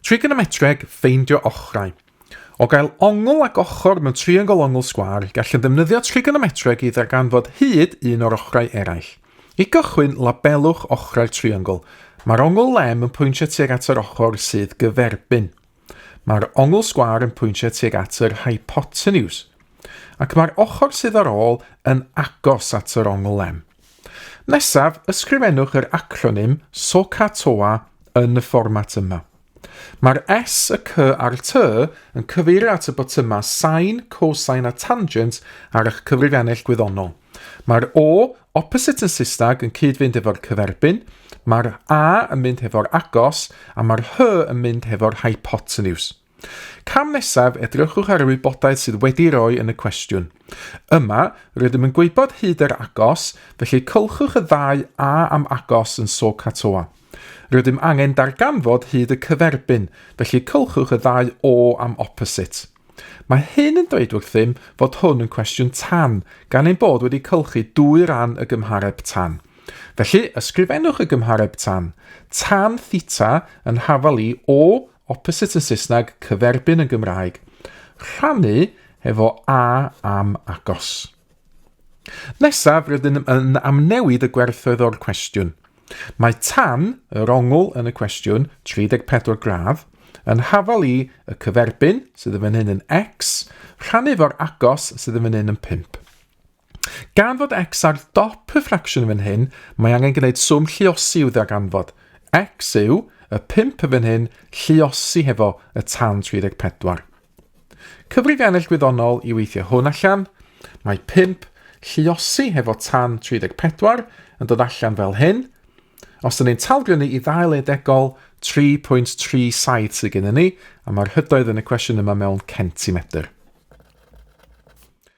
Trigonometreg, ffeindio ochrau. O gael ongl ac ochr mewn triongl ongl sgwâr, gallwn ddefnyddio trigonometreg i ddarganfod hyd un o'r ochrau eraill. I gychwyn, labelwch ochrau'r triongl. Mae'r ongl lem yn pwyntio tuag at yr ochr sydd gyferbyn. Mae'r ongl sgwâr yn pwyntio tuag at yr hypotenuse. Ac mae'r ochr sydd ar ôl yn agos at yr ongl lem. Nesaf, ysgrifennwch yr acronym SOCATOA yn y fformat yma. Mae'r S, y C a'r T yn cyfeirio at y botymau sain, cosine a tangent ar eich cyfrifiannell gwyddonol. Mae'r O, opposite yn Saesneg, yn cyd-fynd efo'r cyferbyn, mae'r A yn mynd hefo'r agos, a mae'r H yn mynd hefo'r hypotenuse. Cam nesaf, edrychwch ar y wybodaeth sydd wedi'i roi yn y cwestiwn. Yma, rydym yn gwybod hyd yr agos, felly cylchwch y ddau A am agos yn SOHCAHTOA. Rydym angen darganfod hyd y cyferbyn, felly cylchwch y ddau O am opposite. Mae hyn yn dweud wrthym fod hwn yn cwestiwn tan, gan ein bod wedi cylchu dwy ran y gymhareb tan. Felly, ysgrifennwch y gymhareb tan. Tan theta yn hafal i O Opposite yn Saesneg, cyferbyn yn Gymraeg. Rhannu efo a am agos. Nesaf, rydym yn amnewid y gwerthoedd o'r cwestiwn. Mae tan yr ongl yn y cwestiwn 34 gradd yn hafal i y cyferbyn sydd yn fan hyn yn x rhannu fo'r agos sydd yn fan hyn yn 5. Gan fod x ar dop y ffracsiwn fan hyn, mae angen gwneud swm lliosi i'w ddarganfod. x yw y 5 fan hyn lliosi hefo y tan 34. Cyfrif ennill gwyddonol i weithio hwn allan. Mae 5 lliosi hefo tan 34 yn dod allan fel hyn. Os ydyn ni'n talgrynnu i ddail edegol, 3.37 sydd gennym ni, a mae'r hydoedd yn y cwestiwn yma mewn centimetr.